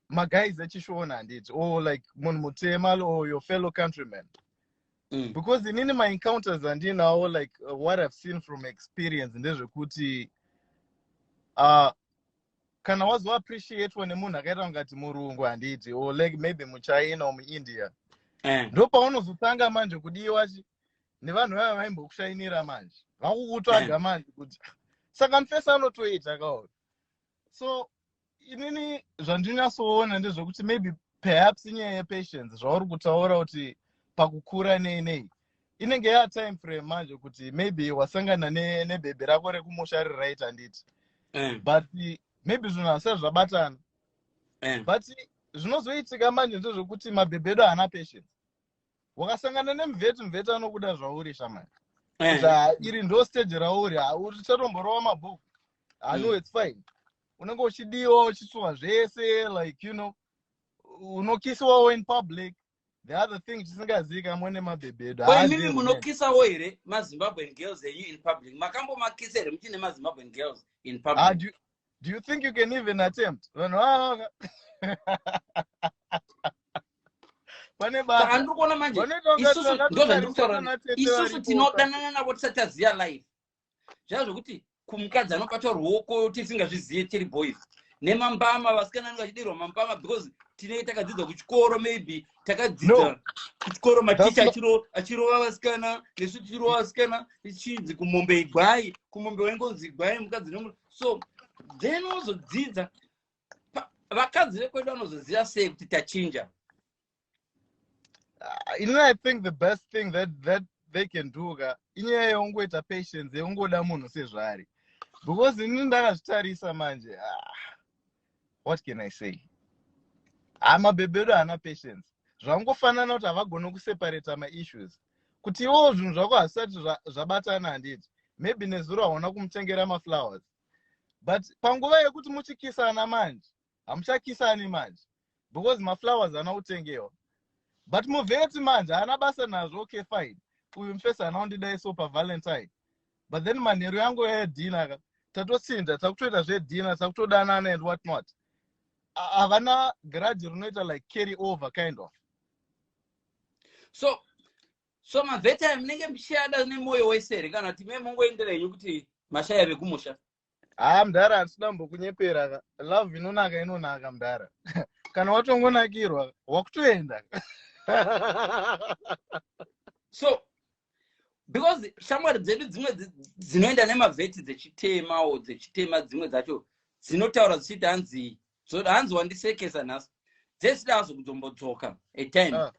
maguys echishona handiti or oh, like munhu mutema or your fellow countryman mm. because inini maencounters andinawo like uh, what i've seen from experience ndezvekuti uh, kana wazoappreciatwa nemunhu akaita kungati murungu handiti or like maybe muchina or muindia eh. ndo paunozotanga manje kudiwa nevanhu vaya vaimbokushainira manje vakukutsvaga eh. manje kuti saka mfesa anotoita kaona so inini zvandinyasoona ndezvekuti maybe perhaps inyaya yepatience zvauri kutaura kuti pakukura nei nei inenge ya time frame manje kuti maybe wasangana nebhebhi ne rako rekumusha riri right handiti eh. but maybe zvinhu hasai zvabatana eh. but zvinozoitika manje ndezvekuti mabhebhi edu haana patience ukasangana nemveti mveti anokuda zvauri shamai Eh. Saka iri ndo stage rauri ha- uchatomborova mabhuku i know Mm. it's fine unenge uchidiwa uchisuwa zvese like you know unokisiwawo in public the other thing tisingazivikamwe nemabhebhi edu Ko imimi haazivi mene munokisawo here mazimbabwean girls enyu in public makambomakisa here muchine mazimbabwean girls in Ah, public do, do you think you can even attempt vanhu vavaka pane baandiri kuona manje isusu ndo zvandiri kutaura isusu tinodanana navo tisati aziva life zvaa zvokuti kumukadzi anobata ruoko tisingazvizive tiri boys nemambama vasikana anenge achidirwa mambama because tinenge takadzidza kuchikoro maybe takadzidza kuchikoro maticha achirova vasikana nesu tichirova vasikana tichinzi kumombe igwai kumombe waingonzi igwai mukadzi so then wozodzidza vakadzi vekwedu vanozoziva sei kuti tachinja ah, inini i think the best thing that, that they can do ka inyaya yeungoita patience yeungoda munhu sezvaari because inini ndakazvitarisa manje ah. what can i say haa mabhebhedu haana patience zvangofanana kuti havagone kuseparata maissues kuti iwowo zvinhu zvako hazvisati zvabatana handiti maybe nezuro hauna kumutengera maflowers but panguva yekuti muchikisana manje hamuchakisani manje because maflowers ana utengewa but muvheti manje haana basa nazvo okay fine uyu mfesi haana undidai so pavalentine but then manheru yangu yayadhina ka tatotsinda takutoita zvedhina takutodanana and what not havana grudge rinoita like carry over kind of so so mavheti ayo munenge muchiyada nemwoyo wese here kana kuti me mongoendera henyu kuti mashaya vekumusha haa mdhara hatisina kumbokunyepera ka love inonaka inonaka mdhara kana watongonakirwa wakutoenda so because shamwari dzedu dzimwe dzinoenda nemavheti dzechitema o dzechitema dzimwe dzacho dzinotaura dzichiti hanzi zvoda hanzi wandisekesa nhasi dzesida hazo kuzombodzoka atime ah.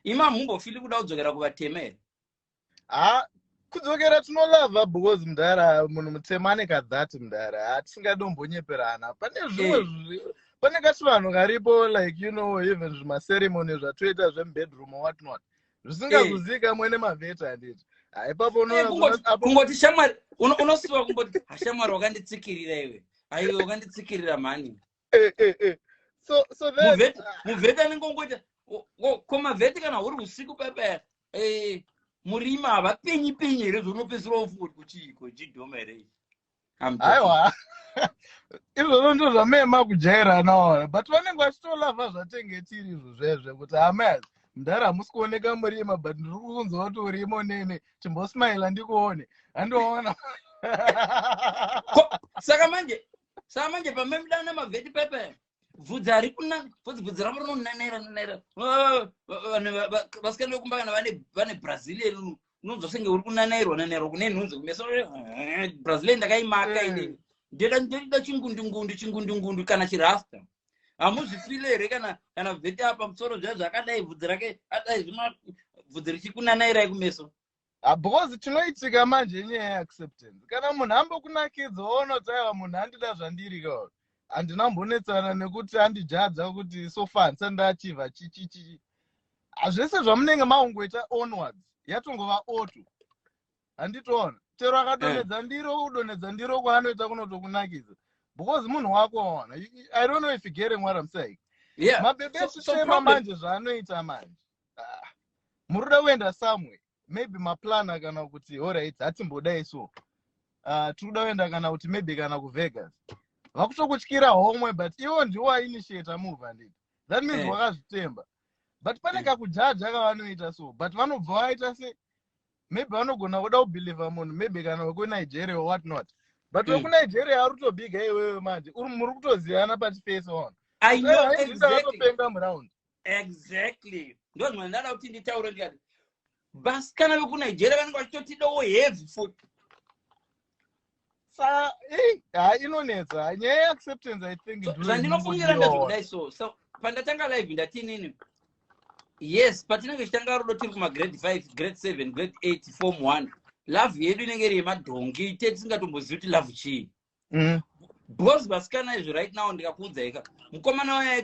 ima mumbofili kuda kudzokera kuvatema here ha kudzokera tinolava because mdara munhu mutema ane kadhat mdara ha tisingadimbonyeperana pane zvimwe hey. pane kachivanhu karipo like you know even zvimaceremony zvatoita zvemubedroom whatnot zvisingazuzika hey. mwene mavheti handiti haipapo unokungoti shamwari unosiwa kumboti hashamwari wakanditsikirira iwe aiwe wakanditsikirira mhani eh, eh, eh. so so then muvheti ah, muvheti anenge ongoita o- o- ko mavheti kana huri usiku payapaya eh, murima havapenyi penyi here zvounopedzisira wofungoti kuchiiko jidhoma here iyi? I'm joking. aiwa izvozvo ndo zvamema kujairana wona but vanenge vachitolavha zvatenge tiri izvo zvezve kuti hamas mdhara hamusi kuoneka murima but ndiri kunzwa kuti urima unene chimbosmaila ndikuone handiona Ko- saka manje saa manje pamemdana mavheti pepe bvudzi ari kuna bvudzi bvudzi ravo rinonenera nenera vanhu vasikana vekumba kana vane brazilian unonzwa senge uri kunanairwa nanairwa kune nhunzi kumeso eh, brazilian ndakaimaka mm. inini ndoda ndoda chingundungundu chingundungundu kana chirasta hamuzvifile here kana kana vheti apa musoro zviya zvakadai bvudzi rake adai zvima bvudzi richikunanairai kumeso Ah, because chinoitika manje inyaya yeacceptance kana munhu ambokunakidza woonoti aiwa munhu andida zvandiri ka handina mbonetsana nekuti andijadza kuti so far handisati ndaachiva chichichi Ah, zvese zvamunenge maungoita onwards yatongova oto handitoona chero akadonhedza ndiro kudonhedza ndiro kwaanoita kunotokunakidza because munhu wako waona You- you- i don't know if you getting what i'm saying Yeah. mabebe So- so echitema problem- manje zvaanoita manje Ah, muri kuda kuenda somewhere maybe maplana kana kuti alright hatimbodai so Ah, tiri kuda kuenda kana kuti maybe kana kuvegas vakutokutyira homwe but iwo ndiwo wainitiata move handiti that means Eh. wakazvitemba but pane Eh. kakujaja kavanoita so but vanobva vaita se maybe vanogona kuda kubhilivha munhu maybe kana wekunigeria or what not but Mm. wekunigeria ari kutobhiga iwewe manje uri muri kutozivana pachifesi on I know exactly. vatopenga muround exactly ndozvimwe ndada kuti nditaure ndikati vasikana vekunigeria vanenge vachitotidawo heavy food sa eh, ha inonetsa nyaya yeacceptance i think zvandinofungira ndezvekudai so so pandatanga live ndati inini yes patinenge tichitanga rudo tiri kumagrade five grade seven grade eight form one love yedu inenge iri yemadhongi te tisingatombozivi kuti love chii mm. because vasikana izvi right now ndikakuudzaika mukomana wayai